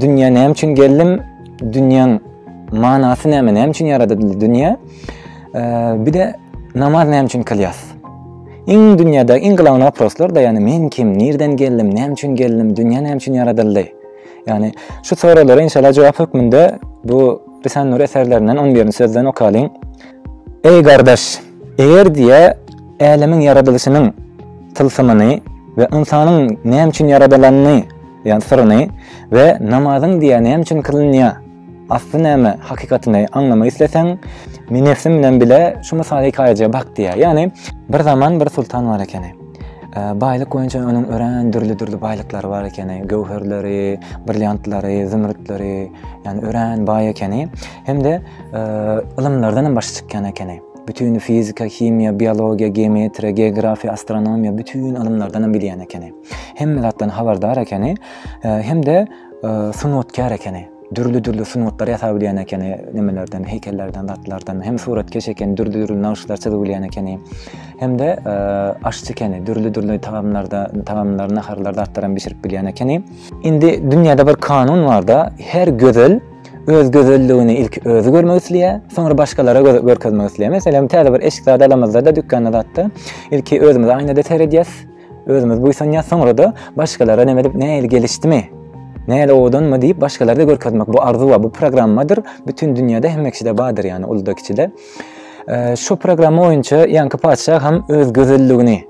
Dünýä näme üçin geldim? Dünýäň manasy näme? Näme üçin ýaradyldy dünýä? Bir de namaz näme üçin kylýas? Iň dünýäde iň glavna waproslar da, ýani men kim, nirden geldim, näme üçin geldim, dünýä näme üçin ýaradyldy? Ýani şu soraglara inşallah jogap hökmünde bu Risan Nur eserlerinden 11-nji sözden okalyň. Eý gardaş, eger diýýä, älemiň ýaradylyşynyň tylsymyny we ynsanyň näme üçin ýaradylanyny diýýä syryny we namazyň diýýä näme üçin kylynýa asly näme hakykatyny aňlamak isleseň, nenefsiň bilen bile şu mysal-hikaýajyga bak diýýä. Ýagny, bir zaman bir sultan bar ekeni. Baýlyk boýunça onuň örän dürli-dürli baýlyklary bar ekeni, göwherleri, brilliantlary, zümrütleri, ýagny örän baý ekeni. Hem-de ylymlardan hem başy çykýan ekeni. Bütün fizika, himiýa, biologiýa, geometriýa, geografiýa, astronomiýa, bütün ylymlardan hem bilýän ekeni. Hemme zatdan habardar ekeni, hem-de sungatkär ekeni. dürli-dürli sungatlary ýasap bilýän ekeni, nimelerden, heýkellerden, zatlardan. Hem suratkeş ekeni, dürli-dürli nagyşlar çyzyp bilýän ekeni. Hem-de e, aşçy ekeni, dürli-dürli tagamlarda, tagamlar, naharlar, zatlar hem bişirip bilýän ekeni. Indi dünýäde bir kanun bar-da, her gözel öz gözelligini ilki özi görmek isleýär, soňra başgalara göz görkezmek isleýär. Meselem, täze bir eşik zady alamyzda-da, dükanda zatda, ilki özümiz aýnada seredýäs, özümiz buýsanýas, soňra-da başgalara näme edip, nähili gelişdimi, nähili owadanmy diýip, başgalara görkezmek bu arzuwa, bu programmadyr. Bütin dünýäde hemme kişide bardyr, ýagny uluda, kiçide. Şu programma boýunça ýaňky patyşa hem öz gözelligini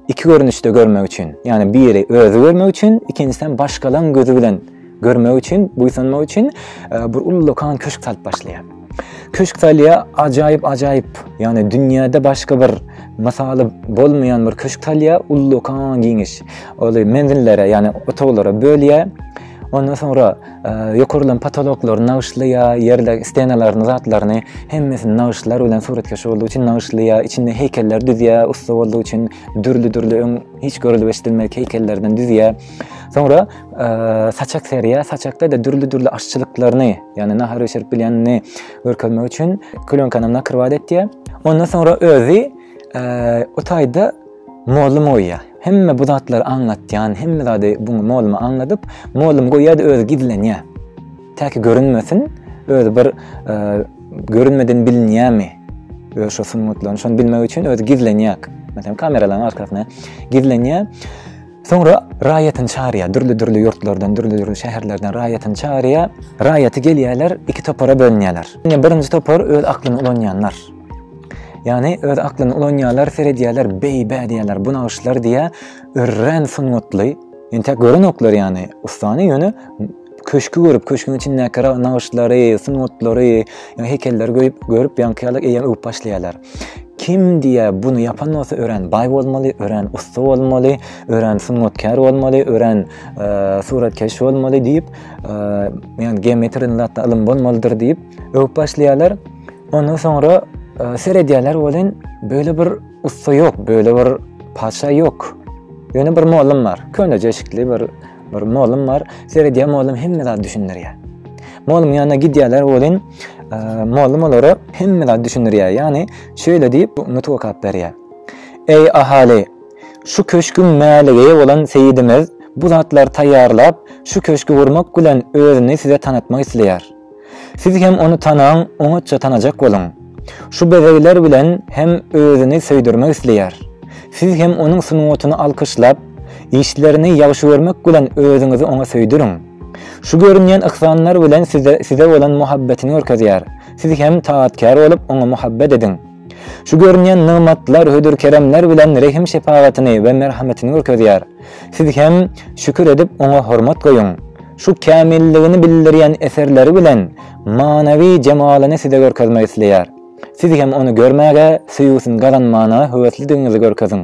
iki görnüşde görmek üçin, ýagny biri özi görmek üçin, ikinjisi hem başgalaryň gözi bilen Görmek üçin, buýsanmak üçin e, bir uly dokan köşk salyp başlaýar. Köşk salýa ajaýyp ajaýyp, ýagny dünýäde başga bir mysaly bolmaýan bir köşk salýa uly dokan giňiş. Ol menzillere, ýagny otaglara bölýär. Ondan soňra e, ýokarlan potoloklary nagyşlaýar, ýerde stenalaryny, zatlaryny hemmesini nagyşlar bilen suratkeş boldy üçin nagyşlaýar, içinde heýkeller düzýär, ussa boldy üçin dürli-dürli öň hiç görülip eşidilmedik heýkellerden düzýär. Soňra saçak seriýa, saçakda da dürli-dürli aşçylyklaryny, ýagny nahar bişirip bilýänini görkezmek üçin klýonkany nakrywat etýär. Ondan soňra özi o taýda mollum goýýar. Hemme bu zatlary aňlatýan, hemme zady bu mollumy aňladyp, mollum goýýar da özi gizlenýär. Täki görünmesin, özi bir görünmeden bilinýärmi? Öz şu sungatlaryny şony bilmek üçin özi gizlenýär. Meselem, kameralaryň arkasyna gizlenýär. Soňra raýatyny çagyrýar, dürli-dürli ýurtlardan, dürli-dürli şäherlerden raýatyny çagyrýar. Raýaty gelýärler, iki topara bölünýärler. Ine, birinji topar öz aklyny ulanýanlar. Ýagny, öz aklyny ulanýarlar, seredýärler, beý-bä diýýärler, bu nagyşlar diýýär, örän sungatly. Entäk görenoklar ýagny ussany, ýöne köşki görüp, köşküň içindäki nagyşlary, sungatlary, ýa heýkelleri göýüp, görüp, ýaňky ýaly eýýäm öwüp başlaýarlar. Kim diýýä, buny ýapan bolsa örän baý bolmaly, örän ussa bolmaly, örän sungatkär bolmaly, örän suratkeş bolmaly diýip, ýa geometri zatda ylym bolmalydyr diýip öwüp başlaýarlar. Ondan soňra seredýärler welin, beýle bir Ussa ýok, böyle bir paça ýok. Ýöne bir mollum bar. Köne jeşikli bir bir mollum bar. Seredýär mollum hemme zat düşündirýär. Mollum ýanyna gidýärler welin, mollum olara hemme zat düşündirýär. Ýani şöyle diýip nutg okap berýär. Eý ahaly, şu köşgüň mäligeýi bolan seýidimiz bu zatlary taýýarlap, şu köşgi gurmak bilen özüni size tanatmak isleýär. Siz hem ony tanaň, oňatja tanajak boluň. Şu bezegler bilen hem özüni söýdürmek isleýär. Siz hem onuň sungatyny alkyşlap, işlerini ýagşy görmek bilen özüňizi oňa söýdüriň. Şu görünýän yhsanlar bilen size bolan muhabbetini görkezýär. Siz hem taatkär bolup oňa muhabbet ediň. Şu görünýän nygmatlar hödür-keremler bilen rehim-şepagatyny we merhametini görkezýär. Siz hem şükür edip oňa hormat goýuň. Şu kämilligini bildirýän eserleri bilen manawy jemalyny size görkezmek isleýär. Siz hem ony görmäge, söýgüsini gazanmana höweslidigiňizi görkeziň.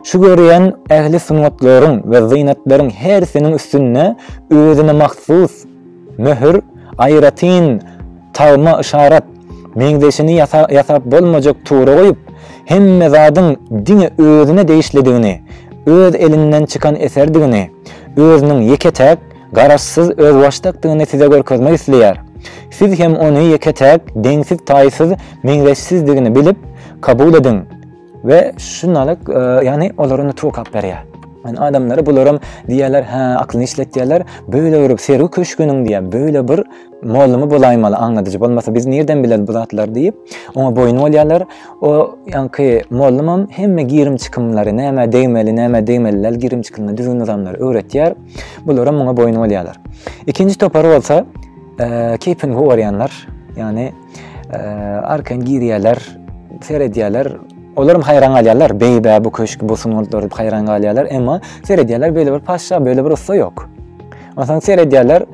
Şu görýän ähli sungatlaryň we zynatlaryň hersiniň üstünde özüne mahsus möhür, aýratyn Tagma yşarat, meňzeşini ýasap bolmajak tura goýup, hemme zadyň diňe özüne degişlidigini, öz elinden çykan eserdigini, özüniň ýeke-täk, garaşsyz, özbaşdakdygyny size görkezmek isleýär. Siz hem ony ýeke-täk, deňsiz-taýsyz, meňzeşsizdigini bilip, kabul ediň. we şunalyk ýagny olara nutuk alyp berýär. Yani adamlara bularam diýerler, hä, aklyny işlet diýerler. Böyle görüp sergi köşgüniň diýe, böyle bir mollumy bolaýmaly, aňladyjy bolmasa biz nirden bileris bu zatlar diýip, oňa boýun bolýarlar. O ýaňky mollumam hemme girim çykymlary, näme degmeli, näme degmeliler girim çykymlary, düzgün nizamlary öwretýär. Bularam muňa boýun bolýarlar. Ikinji topar bolsa, e, keýpini gowarýanlar. Yani Arkan girýärler, seredýärler. Olaram haýran galýarlar. Beýbä bu köşk, bu sungatlar diýip haýran galýarlar. Emma seredýärler, beýle bir paşşa, beýle bir ussa ýok. Onsoň seredýärler,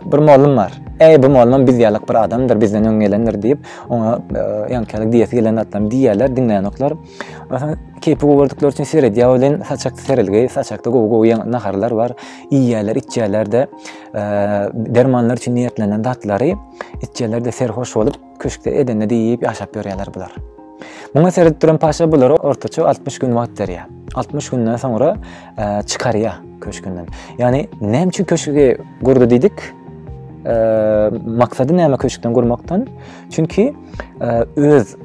bir mollum bar. Äý, bu mollum biz ýalyk bir adamdyr, bizden öň gelendir diýip, oňa ýaňykalyk diýesi gelen zatlaryny diýýärler, diňleýänoklar. Onsoň keýpi gowy gördükleri üçin seredýär welin, saçakda serelgi, saçakda gowy-gowy naharlar bar. Iýýärler, içýärler-de, dermanlar üçin niýetlenen zatlary. Itjeler-de serhoş bolup, köşkde edende-de iýip ýaşap ýörýärler bular. Muňa seredip duran paşa bulary ortaça altmyş gün wagt berýär. Altmyş günden soňra çykarýar köşkünden. Ýagny, näme üçin köşgi gurdy diýdik? Maksady näme köşkden gurmakdan? Çünki öz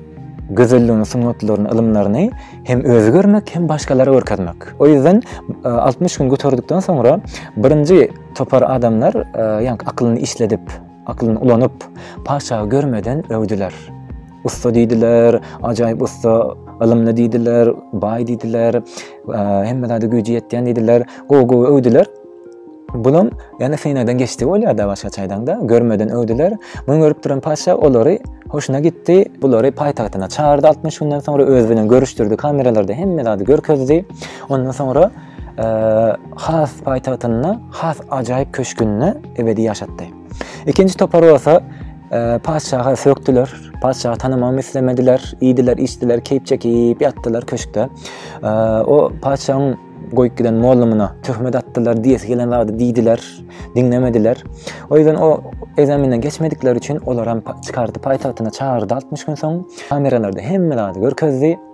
gözelligini, sungatlaryny, ylymlaryny hem özi görmek, hem başgalara görkezmek. O ýüzden 60 gün göterdikden soňra birinji Topar adamlar ýaňky akylyny işledip, akylyny ulanyp, patyşahy görmeden öwdüler. Ussa diýdiler, ajaýyp ussa, ylymly diýdiler, baý diýdiler, hemme zada güýji ýetýän diýdiler, gowy-gowy öwdüler. Bulam ýene synagdan geçdi bolýar-da başga çaýdan-da, görmeden öwdüler. Muny görüp duran patyşa olary hoşuna gitdi, bulary paýtagtyna çagyrdy altmyş günden soňra öz bilen görüşdirdi, kameralarda hemme zady görkezdi. Ondan soňra has paýtagtynda, has ajaýyp köşgünde ebedi ýaşatdy. Ikinji topar bolsa patyşaha sökdüler, patyşahy tanamagy islemediler, iýdiler, içdiler, keýp çekip ýatdylar köşkde. O patyşaň goýup giden mollumyna töhmet atdylar, diýesi gelen zady diýdiler, diňlemediler. O ýüzden o ezeminden geçmedikleri üçin olar hem çykardy paýtagtyna çagyrdy 60 gün soň. Kameralarda hemme zady görkezdi.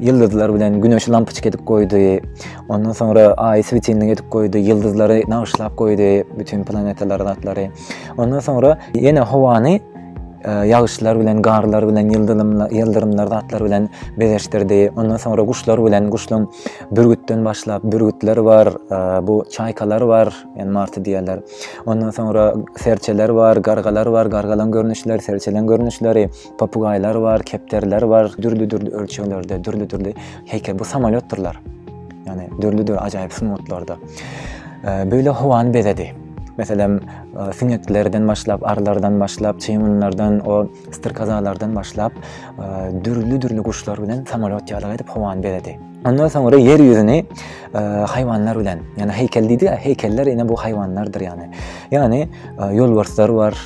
ýyldyzlar bilen güneşi lampyçka edip goýdy. Ondan soňra aýy swetilnik edip goýdy, ýyldyzlary nagyşlap goýdy, bütin planetalary, zatlary. Ondan soňra ýene howany e, ýagyşlar bilen, garlar bilen, ýyldyrymlar, zatlar bilen bezeşdirdi. Ondan soňra guşlar bilen, guşlaryň bürgütden başlap, bürgütler bar, e, bu çaýkalar bar, ýani marty diýerler. Ondan soňra serçeler bar, gargalar bar, gargalaryň görnüşleri, serçeleriň görnüşleri. Papugaýlar bar, kepderiler bar, dürli-dürli ölçeglerde, dürli-dürli heýkel. Bu samolýotdyrlar. Ýani dürli-dürli ajaýyp sungatlarda. Böyle howany bezedi. Meselem, e, süňeklerden başlap, arlardan başlap, çeýmunlardan, o styrkazalardan başlap, e, dürli-dürli guşlar bilen samolýot ýaly edip howany bezedi. Ondan soňra ýer ýüzüni e, haýwanlar bilen, ýani heýkel diýdi, heýkeller ýene bu haýwanlardyr ýani. Ýani ýolbarslar bar,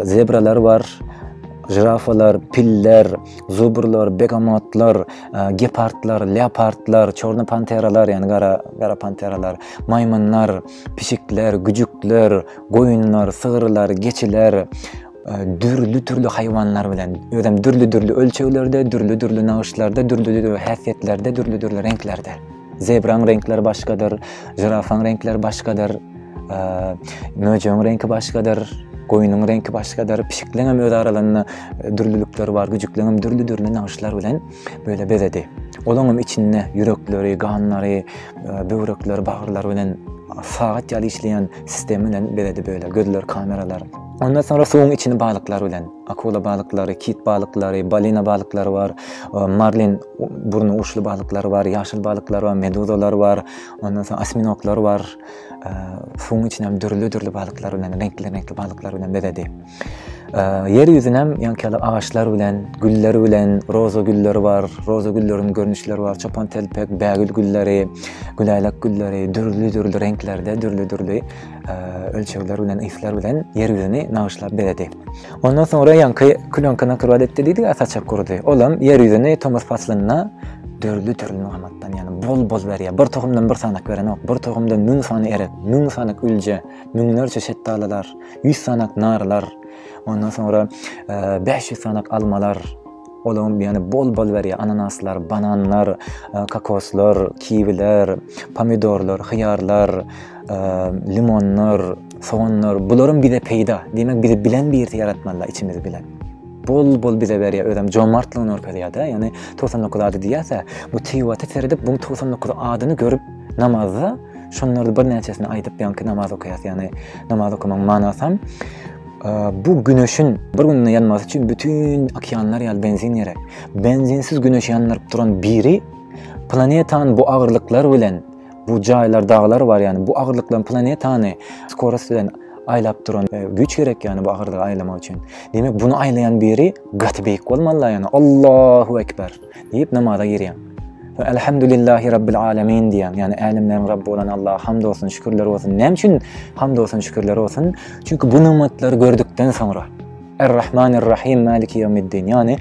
zebralar bar, žirafalar, piller, zubrlar, begamotlar, gepardlar, leopardlar, çorny panteralar, ýani gara gara panteralar, maýmynlar, pişikler, güjükler, goýunlar, sygyrlar, geçiler, dürli-dürli haýwanlar bilen, özem dürli-dürli ölçeglerde, dürli-dürli nagyşlarda, dürli-dürli häsiýetlerde, dürli-dürli reňklerde. Zebraň reňkleri başgadyr, žirafaň reňkleri başgadyr, möjegiň reňki başgadyr, goýnuň reňki başgadyr, pişikleň hem öz aralarynda dürlülikleri bar, güjükleň hem dürli-dürli nagyşlar bilen böyle bezedi. Olaň hem içinde ýürekleri, ganlary, böwrekleri, bagyrlary bilen sagat ýaly işleýän sistemi bilen bezedi böyle gözler kameralar. Ondan soňra suwuň içini balyklar bilen. Akula balyklary, kit balyklary, balina balyklary bar. Marlin burny uçly balyklary bar, ýaşyl balyklary bar, meduzalar bar. Ondan soň osminoklar bar. Suwuň içini hem dürli-dürli balyklar bilen, reňkli-reňkli balyklar bilen bezedi. Ýer ýüzünem ýaňky agaçlar bilen, güller bilen, roza gülleri bar. Roza gülleriniň görnüşleri bar. Çopantelpek, bägül gülleri, güläýlek gülleri, dürli-dürli reňklerde, dürli-dürli. ölçegler bilen, yslar bilen ýer ýüzüni nagyşlap bezedi. Ondan soňra ýaňky különki nakyrbat etdi diýdi, saçak gurdy. Olam ýer ýüzüni tomus paslynda dörli dörli nygmatdan, ýany bol-bol berýär. Bir tohumdan bir sanak berenok, bir tohumdan müň sany erek, müň sanak ülje, müňlerçe şetdalylar, ýüz sanak narlar, ondan soňra 500 e, sanak almalar, Olaň ýany bol-bol berýär, ananaslar, bananlar, kokoslar, kiwiler, pomidorlar, hyýarlar, limonlar, soganlar, bularam bize peýda. Diýmek, bizi bilen birte ýaratmalylar içimiz bilen. Bol-bol bize berýär, özem jomartlygyny görkezýär-de, ýani togsan dokuz ady diýýäs-ä, bu tiwata seredip, bu togsan dokuz adyny görüp namazda şonlarda birnäçesini aýdyp ýaňky namaz okaýas, ýani namaz okamagyň manasam, Bu Güneşiň bir günde ýanmasy üçin bütin okeanlar ýaly benzin gerek. Benzinsiz Güneşi ýandyryp duran biri planetany bu agyrlyklar bilen, bu jaýlar, daglar bar, ýani bu agyrlyklar planetany skorost bilen aýlap duran güýç gerek, ýani bu agyrlygy aýlamak üçin. Demek, bunu aýlaýan biri gaty beýik bolmaly-la, ýani Allahu ekber! Diýip namaza girýäň. Soň Elhamdülillahi Rabbil Alemin diýýäň, ýagny Älemleriň Rabby bolan Allaha hamd bolsun, şükürler bolsun. Näme üçin hamd bolsun, şükürler bolsun? Çünki bu nygmatlary gördükden soňra, Er-Rahmanir Rahim Maliki Ýewmiddin, ýagny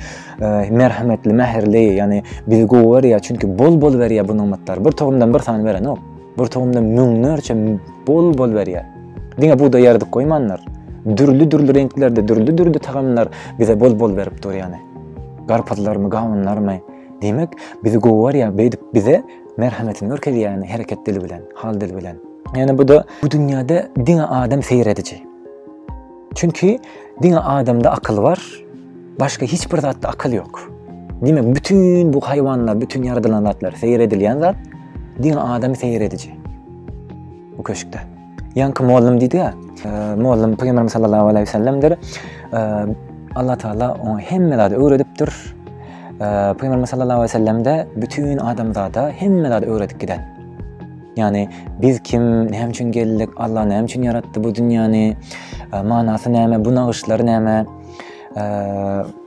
Merhemetli, Mähirli, ýagny bizi gowy görýär, çünki bol-bol berýär bu nygmatlary. Bir tohumdan bir sany berenok. Bir tohumdan müňlerçe bol-bol berýär. Diňe bugdaý ýarydyp goýmandyr. Dürli-dürli reňklerde, dürli-dürli tagamlar bize bol-bol berip dur ýagny. Garpyzlarmy, gawunlarmy? Diýmek, bizi gowy görýär, beýdip bize merhemetini görkezýär hereket dili bilen, hal dili bilen. Ýani bu-da bu dünýäde diňe adam seýrediji. Çünki diňe adamda akyl bar, başga hiç bir zatda akyl ýok. Diýmek, bütin bu haýwanlar, bütin ýaradylan zatlar, seýredilýän zat diňe adam seýrediji. Bu köşkde. Ýaňky mollum diýdi-ä. Mollum Pygamberimiz sallallahu aleyhi we sellemdir. Allah Taala oňa hemme zady öwredipdir. Pygamberimiz sallallahu aleyhi we sellem de bütin adamzada hemme zady öwredip giden. Ýani biz kim, näme üçin geldik, Allah näme üçin ýaratdy bu dünýäni, manasy näme, bu nagyşlar näme?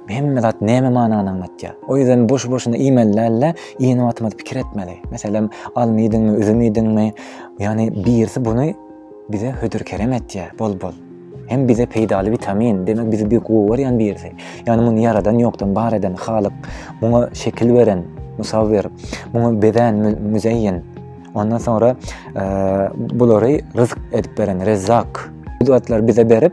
Hemme zat näme manany aňlatýar? O ýüzden boşu-boşuna iýmeli däl-de, iýen wagtymyz pikir etmeli. Meselem, alma iýdiňmi, üzüm iýdiňmi? Ýagny birisi buny bize hödür-kerem etýär, bol-bol. Hem bize peýdaly witamin, demek bizi bir gowy görýän birisi. Ýagny muny ýaradan, ýokdan bar eden Halyk, muňa şekil beren, musawwir, muňa bezän, müzeýin. Ondan soňra bulary ryzyk edip beren Rezzak. Bu zatlar bize berip,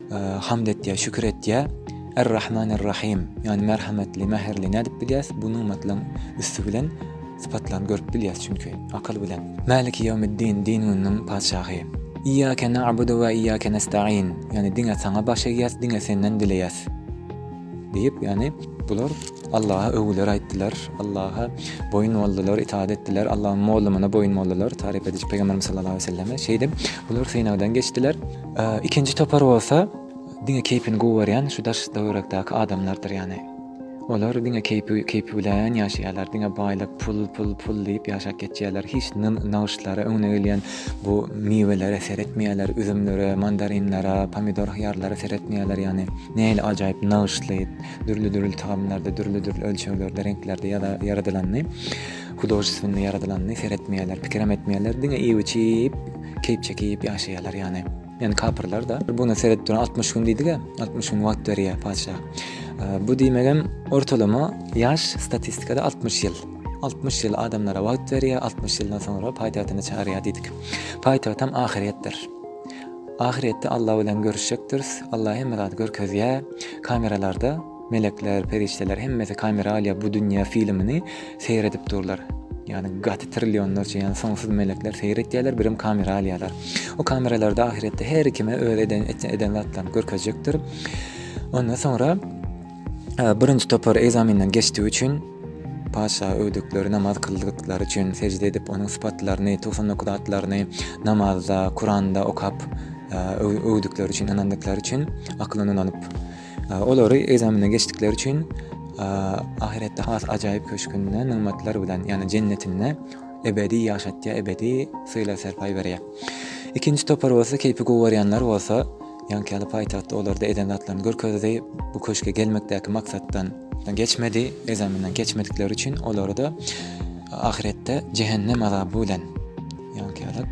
Hamd etýär, şükür etýär. Ar-Rahman Ar-Rahim, ýagny merhametli, mähirli nädip bilýäs? Bu nygmatlaryň üsti bilen sypatlaryny görüp bilýäs çünki, akyl bilen. Maliki Ýawmiddin, din gününiň patyşahy. Iýýake na'budu we iýýake nestaîn, ýagny diňe saňa baş egýäs, diňe senden dileýäs diýip, ýagny bular Allaha öwgüler aýtdylar, Allaha boýun boldular, itaat etdiler, Allaň mollumyna boýun boldular, taryp ediji Pygamberimiz sallallahu aleýhi we selleme. Şeýdip, bular synagdan geçdiler. Ikinji topar bolsa diňe keýpini gowy görýän şu daş töwerekdäki adamlardyr ýaly. Olar diňe keýpi keýpi bilen ýaşaýarlar. Diňe baýlyk, pul, pul, pul diýip ýaşap geçýärler. Hiç nagyşlara, öňüne gelýän bu miwelere seretmeýärler, üzümlere, mandarinlere, pomidor, hyýarlara seretmeýärler ýaly. Nähili ajaýyp nagyşly, dürli-dürli tagamlarda, dürli-dürli ölçeglerde, reňklerde ýaradylanyny, hudožestwennyý ýaradylanyny seretmeýärler, pikirem etmeýärler. Diňe iýip-içip, Keýp çeki iýip ýaşaýarlar ýany. Ýani kapyrlar da. Buna seredip duran altmyş gün diýdiga, altmyş gün wagt berýär patyşa. Bu diýmegem ortalama ýaş statistikada altmyş ýyl. Altmyş ýyl adamlara wagt berýär, altmyş ýyldan soňra paýtagtyna çagyrýar diýdik. Paýtagtam ahyretdir. Ahyretde Alla bilen görüşjekdiris. Alla hemme zady görkezýär kameralarda. Melekler, perişdeler hemmesi kameraliýa bu dünýä filmini seýredip durlar. Ýagny gaty trillionlarça ýagny soňsuz melekler seýretýärler, birem kamera alýarlar. O kameralarda ahyretde her kime öz eden eden zatlaryny görkezjekdir. Ondan soňra birinji topar egzaminden geçdigi üçin Paşa öwdükleri namaz kyldyklary üçin sejde edip onuň sypatlaryny, 99 atlaryny namazda, Kuranda okap öwdükleri üçin, ynandyklary üçin akylyny ulanyp Olary egzamenden geçdikleri üçin ahyretde has ajaýyp köşgünde nygmatlar bilen, ýagny jennetinde ebedi ýaşatýar, ebedi sylag-serpaý berýär. Ikinji topar bolsa keýpi guwarýanlar bolsa, ýaňky paýtagtda olarda eden zatlaryny görkezdi, bu köşge gelmekdäki maksatdan geçmedi, egzamenden geçmedikleri üçin olary-da ahyretde jehennem azaby bilen ýaňky ýaly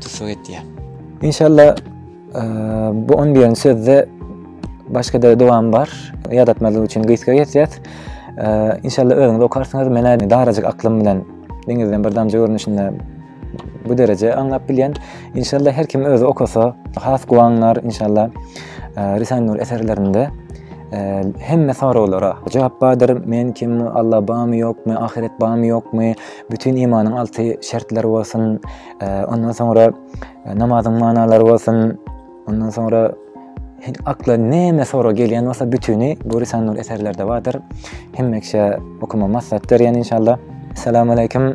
tussag etýär. Inşallah Bu on diýen sözde başga-da dowam bar. Ýadatmazlyk üçin gysga geçýär. Inşallah özüňiz okarsyňyz. Menä darajyk aklym bilen deňizden bir damja görnüşinde bu dereje aňlap bilýän. Inşallah her kim özi okasa has guwanar inşallah. Risan Nur eserlerinde hemme soraglara jogap bardyr. Men kim, Allah barmy ýokmy, ahyret barmy ýokmy, bütün imanyň alty şertleri bolsun. Ondan soňra E, namazyň manalary bolsun, ondan soňra akla näme sora gelýän bolsa bütüni bu Risanur eserlerde bardyr. Hemmeşe okuma maslahat berýän inşallah. Assalamu alaykum.